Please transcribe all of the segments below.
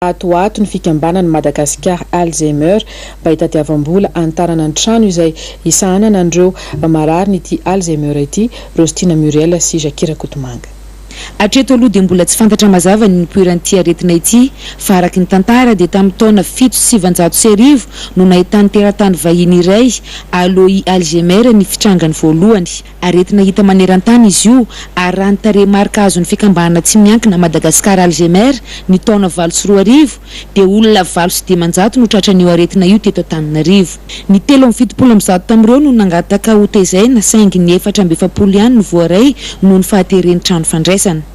Ato ho ato, ny fikambanan'ny Madagasikara Alzheimer mba hitadiavam-bola hanitarana ny trano izay hisahanana an'ireo mararin'ity Alzheimer ity, Rostina Muriel sy Jacky Rakotomanga. Hatreto aloha dia mbola tsy fantatra mazava ny nipoiran'ity aretina ity fa araka ny tantara dia tamin'ny taona fito sy sivinjato sy arivo no nahitan'ny teratany vahiny iray, Alois Alzheimer, ny fitrangany voalohany. Aretina hita maneran-tany izy io ary raha ny tarehimarika azon'ny fikambanana tsy miankina Madagascar Alzheimer ny taona valo sy roa arivo dia olona valo sy dimanjato no tratran'io aretina io teto Antananarivo. Ny telo amby fitopolo amby zato tamin'ireo no nangataka hotezaina saingy ny efatra amby efapolo ihany no voaray noho ny fahateren'ny trano fandraisana.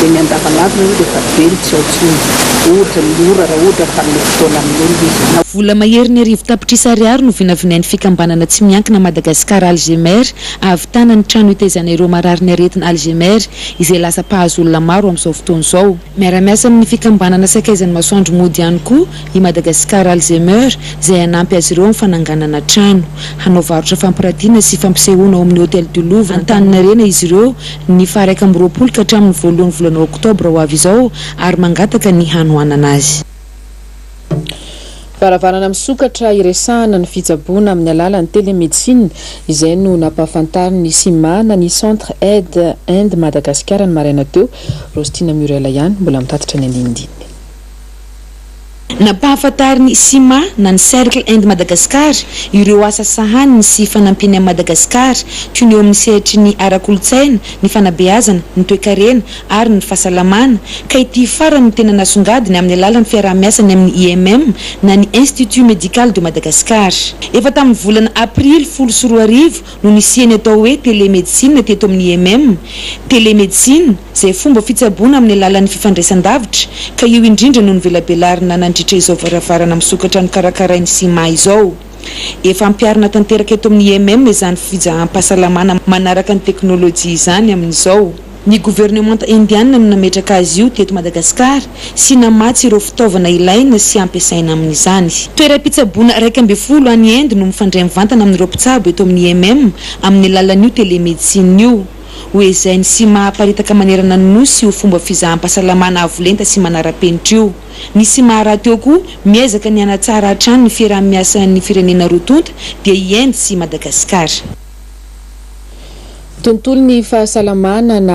dia ny andavanandro aloha dia efa be ny tsy ao intsony, ohatra ny ora raha ohatra fa hanome fotoana amin'olona izy, na. Vola maherin'ny arivo tapitrisa ariary no vinavinain'ny fikambanana tsy miankina Madagascar Alzheimer hahavitana ny trano hitaizana ireo mararin'ny aretina Alzheimer izay lasa mpahazo olona maro amin'izao fotoana izao. Miara-miasa amin'ny fikambanana Sakaizan'ny Masoandro Mody ihany koa i Madagascar Alzheimer izay hanampy azy ireo amin'ny fananganana trano hanao varotra fampiratiana sy fampisehoana ao amin'ny Hôtel du Louvre Antaninarenah izy ireo ny faha iraika amby roapolo ka hatramin'ny voalohan'ny volana oktobra ho avy izao ary mangataka ny hanohanana azy. Varavarana misokatra hiresahana ny fitsaboana amin'ny alalan'ny télémédecine. Izay no nampahafantarin'ny cima na ny Centre Aide Inde Madagascar ny maraina teo. Rostina Muriel ihany mbola mitatitra ny andinindininy. Nampahafantarin'ny Cima na ny Cercle Inde Madagascar ireo asa sahaniny sy fanampiany an'i Madagasikara, toy ny eo amin'ny sehatry ny ara-kolontsaina, ny fanabeazana, ny toekarena ary ny fahasalamana, ka ity farany no tena nasongadiny amin'ny alalan'ny fiaraha-miasany amin'ny IMM na ny Institut Medical de Madagascar. Efa tamin'ny volana Aprily folo sy roa arivo no nisian'ny atao hoe Telemedicine teto amin'ny IMM. Telemedicine, izay fomba fitsaboana amin'ny alalan'ny fifandraisan-davitra, ka io indrindra no novelabelarina nandritra izao varavarana misokatra nokarakarain'ny Cima izao. Efa ampiharina tanteraka eto amin'ny IMM izany fijaham-pahasalamana manaraka ny teknolojia izany amin'izao. Ny governemanta Indiana no nametraka azy io teto Madagasikara sy namatsy ireo fitaovana ilaina sy ampiasaina amin'izany. Toeram-pitsaboana iraika ambin'ny folo any Inde no mifandray mivantana amin'ireo mpitsabo eto amin'ny IMM amin'ny alalan'io telemedicine io. Ho ezahiny sy maha aparitaka manerana ny Nosy io fomba fizaham-pahasalamana avo lenta sy manara-penitra io. Ny Sima rahateo koa miezaka ny hanatsara hatrany ny fiaraha-miasan'ny firenena roa tonta dia i Inde sy Madagasikara. Tontolon'ny fahasalamana na.